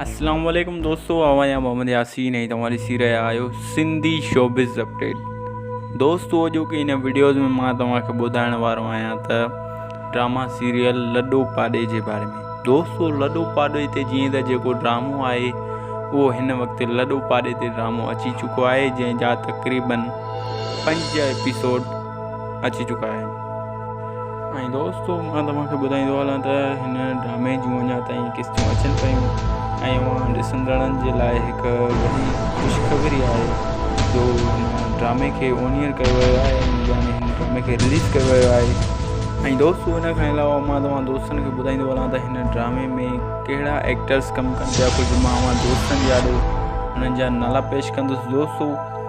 اسلام عليڪم دوستو آء آهيان محمد ياسين ۽ توهان ڏسي رهيا آهيو سنڌي شوبز اپڊيٽ دوستو اڄوڪي هن وڊيوز ۾ مان توهان کي ٻڌائڻ وارو آهيان ته ڊراما سيريل لڏو پاڏي جي باري ۾ دوستو لڏو پاڏي تي جيئن ته جيڪو ڊرامو آهي اهو هن وقت لڏو پاڏي تي ڊرامو اچي چڪو آهي جنهن جا تقريبن پنج ايپيسوڊ اچي چڪا آهن. ۽ دوستو مان توهان کي ٻڌائيندو هلان ته هن ڊرامي جون اڃا تائين قسطون اچن پيون ۽ اوهان ڏسندڙن جي لاء هڪ وڏي خوشخبري آهي جو هن ڊرامي کي اونيئر ڪيو ويو آهي ۽ يعني هن ڊرامي کي رليز ڪيو ويو آهي ۽ دوستو ان کان علاوه مان توهان دوستن کي ٻڌائيندو هلان ته هن ڊرامي ۾ ڪهڙا ايڪٽرس ڪم ڪن پيا ڪجهه مان اوهان دوستن جي آڏو انهن جا نالا پيش ڪندس دوستو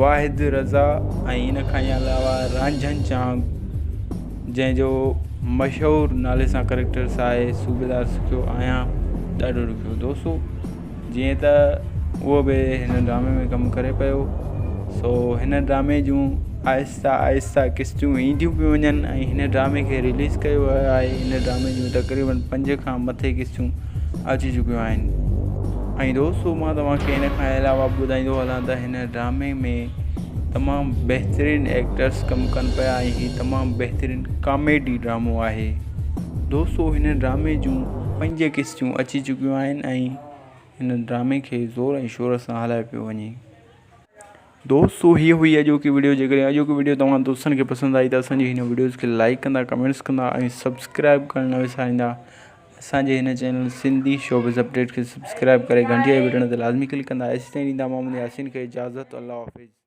واحد رضا ۽ ان کان علاوه رانجهن چانگ جنهن جو مشهور نالي سان ڪريڪٽرس آهي صوبيدار سکيو آهيان ڏاڍو ڏکيو دوسو جيئن ته اهو به هن ڊرامي ۾ ڪم ڪري پيو سو هن ڊرامي جون آهستي آهسته آهسته قسطيون اينديون پيون وڃن ۽ هن ڊرامي کي رليز ڪيو ويو آهي هن ڊرامي جون تقريبن پنج کان مٿي قسطيون اچي چڪيون آهن ۽ دوستو مان توهان کي هن کان علاوه ٻڌائيندو هلان ته هن ڊرامي ۾ تمام بهترين ايڪٽرس ڪم ڪن پيا ۽ هي تمام بهترين ڪاميڊي ڊرامو آهي دوستو هن ڊرامي جون پنج قسطيون اچي چڪيون آهن ۽ هن ڊرامي کي زور ۽ شور سان هلايو پيو وڃي دوستو هي هئي اڄوڪي وڊيو جيڪڏهن اڄوڪي وڊيو توهان دوستن کي پسند آئي ته اسان جي هن وڊيوز کي لائڪ ڪندا ڪمينٽس ڪندا ۽ سبسڪرائب ڪرڻ نه وساريندا اسان جي هن چينل سنڌي شوبز اپڊيٽ کي سبسڪرائب ڪري گهنٽي جي بٽڻ تي لازمي ڪلڪ ڪندا ايسي تائين ڏيندا محمد ياسين کي اجازت الله حافظ